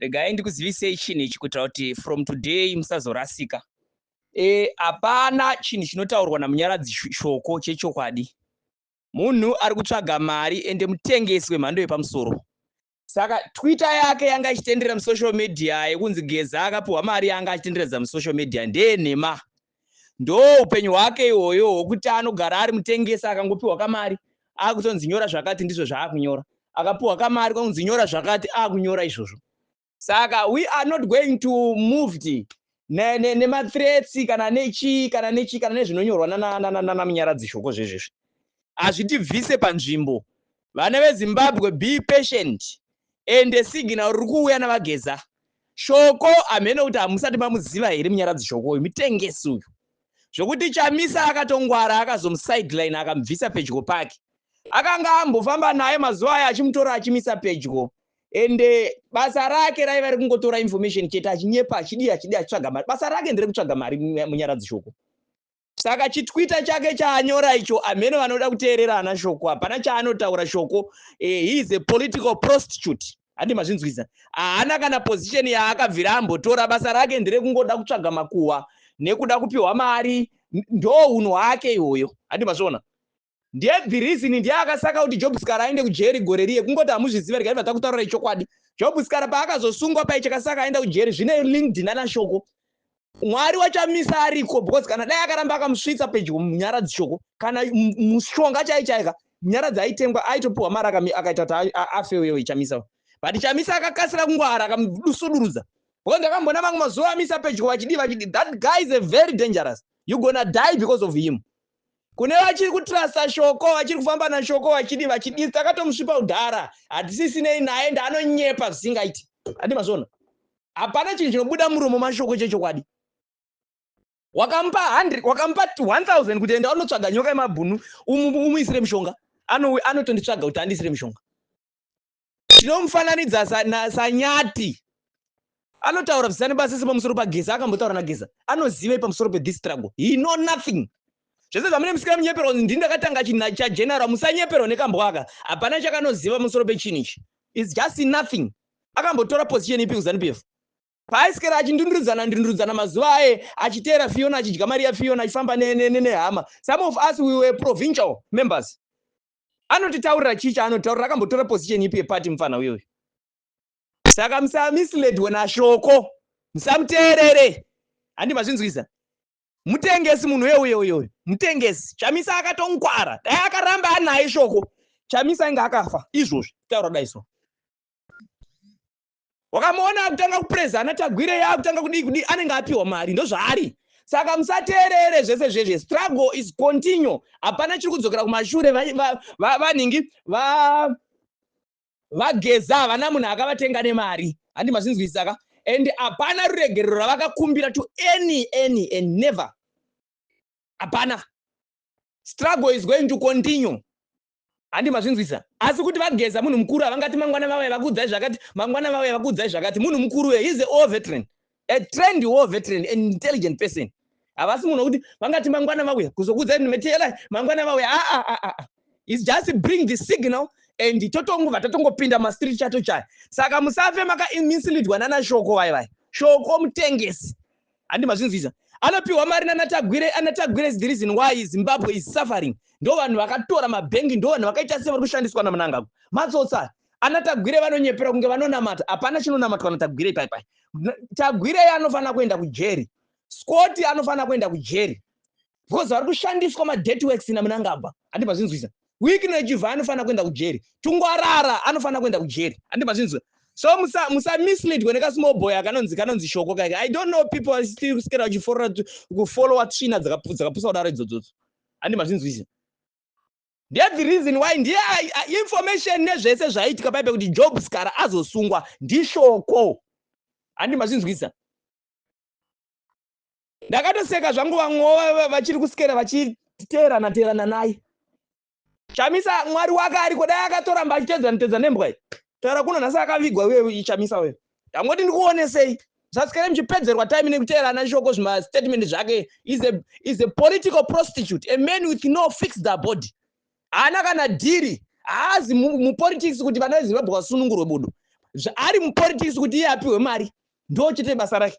Regai ndikuzivisei chinhu ichi kuitira kuti from today musazorasika. Eh, hapana chinhu chinotaurwa naMunyaradzi Shoko chechokwadi. Munhu ari kutsvaga mari ende mutengesi wemhando yepamusoro. Saka Twitter yake yanga ichitenderera musocial media yekunzi Geza akapiwa mari yanga achitenderedza musocial media ndeyenhema. ndoupenyu hwake ihoyo hwokuti anogara ari mutengesi akangopiwa kamari akutonzi nyora zvakati ndizvo zvaakunyora akapiwa kamari konzi nyora zvakati akunyora izvozvo saka we are not going to moved nemathreats ne, ne kana nechii kana nechii kana nezvinonyorwa nanamunyaradzi shoko zvezvezvi hazvitibvise panzvimbo Vana veZimbabwe be patient ende signal riri kuuya naVaGeza. Shoko hameno kuti hamusati mamuziva here Munyaradzi Shoko uyu mutengesi uyu zvokuti Chamisa akatongwara akazomusideline akamubvisa pedyo pake. Akanga ambofamba naye mazuva aya achimutora achimisa pedyo ende basa rake raiva rekungotora information chete achinyepa achidii achidii achitsvaga mari. Basa rake nderekutsvaga mari Munyaradzi Shoko. Saka chitwitter chake chaanyora icho hameno vanoda kuteerera hana shoko hapana chaanotaura shoko eh, he is a political prostitute handi mazvinzwisa haana kana position yaakabvira ambotora basa rake ndere kungoda kutsvaga makuhwa nekuda kupiwa mari ndo unhu hwake ihoyo handi mazviona Ndiye the reason ndiye akasaka kuti Job Skara aende kujeri gore riye kungoti hamuzvizive regai vataka kutaura ichokwadi Job Skara paakazosungwa paicha kasaka aenda kujeri zvine linked nana shoko Mwari wachamisa ariko because kana dai akaramba akamusvitsa pedyo munyara dzishoko kana mushonga chaichaika nyara dzaitengwa aitopiwa mari akaita kuti afe uyo ichamisa but chamisa akakasira kungwara akamudusudurudza because ndakambona vamwe mazuva amisa pedyo vachidii vachidii that guy is a very dangerous you gonna die because of him Kune vachiri kutrusta shoko, vachiri kufamba nashoko vachidi vachidii takatomusvipa udhara hatisisinei naye ende anonyepa zvisingaiti. Ati mazvoona. Hapana chinhu chinobuda muromo mashoko chechokwadi. Wakamupa 100 wakamupa 1000 kuti enda unotsvaga nyoka yemabhunu umuisire mushonga. Ano anotonditsvaga kuti andisire mushonga. Tinomufananidza saNyati. Anotaura zvisane basa sepamusoro paGeza akambotaura naGeza. Anozivei pamusoro pe this struggle? He know nothing. Zvese zvamune musikira munyeperwa ndi ndakatanga china cha general musanyeperwa nekambwaka. Hapana chakanoziva pamusoro pechinhu ichi. It's just nothing. Akambotora position ipi kuZanu PF? Paaiswera achindundurudzana ndundurudzana mazuva aye achiteera Fiona achidya mari yaFiona achifamba nehama. Some of us we were provincial members. Anotitaurira chii chaanotaurira akambotora position ipi yeparty mfana uyo uyo. Saka musamisledwe naShoko. Musamuteerere. Handi mazvinzwisa. Mutengesi munhu uyo uyo uyo. Mutengesi. Chamisa akatonkwara. Dai akaramba anaye Shoko. Chamisa inga akafa. Izvozvi taura dai so. wakamuona akutanga kupreza ana tagwire yaakutanga kudii kudii anenge apiwa mari ndozvaari saka musateerere zvese zvezve struggle is continue hapana chiri kudzokera kumashure vanhingi vageza havana munhu akavatenga nemari handi mazvinzwisisaka and hapana ruregerero ravakakumbira to any any and never hapana struggle is going to continue Handi mazvinzwisa asi kuti vageza munhu mukuru havangati mangwana vauya vakuudzai zvakati mangwana vauya vakuudzai zvakati munhu mukuru uye he's a war veteran a trained war veteran an intelligent person havasi munhu wekuti vangati mangwana vauya kuzokuudzai munhu meteyelai mangwana vauya aa ah, ah, ah, is just bring the signal and totongova tatongopinda mastreet chato chaya saka musafe makaminsilidwa nana shoko vai vai shoko mutengesi handi mazvinzwisa anopiwa mari nanatagwire anatagwire is the reason why zimbabwe is suffering ndo vanhu vakatora mabhengi ndo vanhu vakaita sevari kushandiswa namunangagwa matsotsa anatagwire vanonyepera kunge vanonamata hapana chinonamatwa natagwire ipaipai tagwirei anofanira kuenda kujeri scoti anofanira kuenda kujeri because vari kushandiswa madirty works ina munangagwa handi mazvinzwisa wikino yechivha anofanira kuenda kujeri tungwarara anofanira kuenda kujeri handi mazvinzwa so musamisleadwe musa nekasmall boy akanonzi kanonzi shoko kaike i don't know people are still kusikera kufollowa tsvina dzakapusa kudaro idzodzodzo handi mazvinzwisa ndethe reason why ndiye information nezvese zvaiitika paipe kuti job skara azosungwa ndishoko handi mazvinzwisa ndakatoseka zvangu vamwewo vachiri kusikera vachiteerana teerana naye chamisa mwari wake ariko dai akatoramba achitedzana tedza nembwa iyi taura kuno nhasi akavigwa uye chamisa uyo ndangoti ndikuonesei zvasikere muchipedzerwa time nekuteerana shoko zvimastatement zvake is a political prostitute a man with no fixed body haana kana dhiri haazi mupolitics kuti vana vezimbabwe vasunungurwe budu ari mupolitics kuti iye apiwe mari ndochete basa rake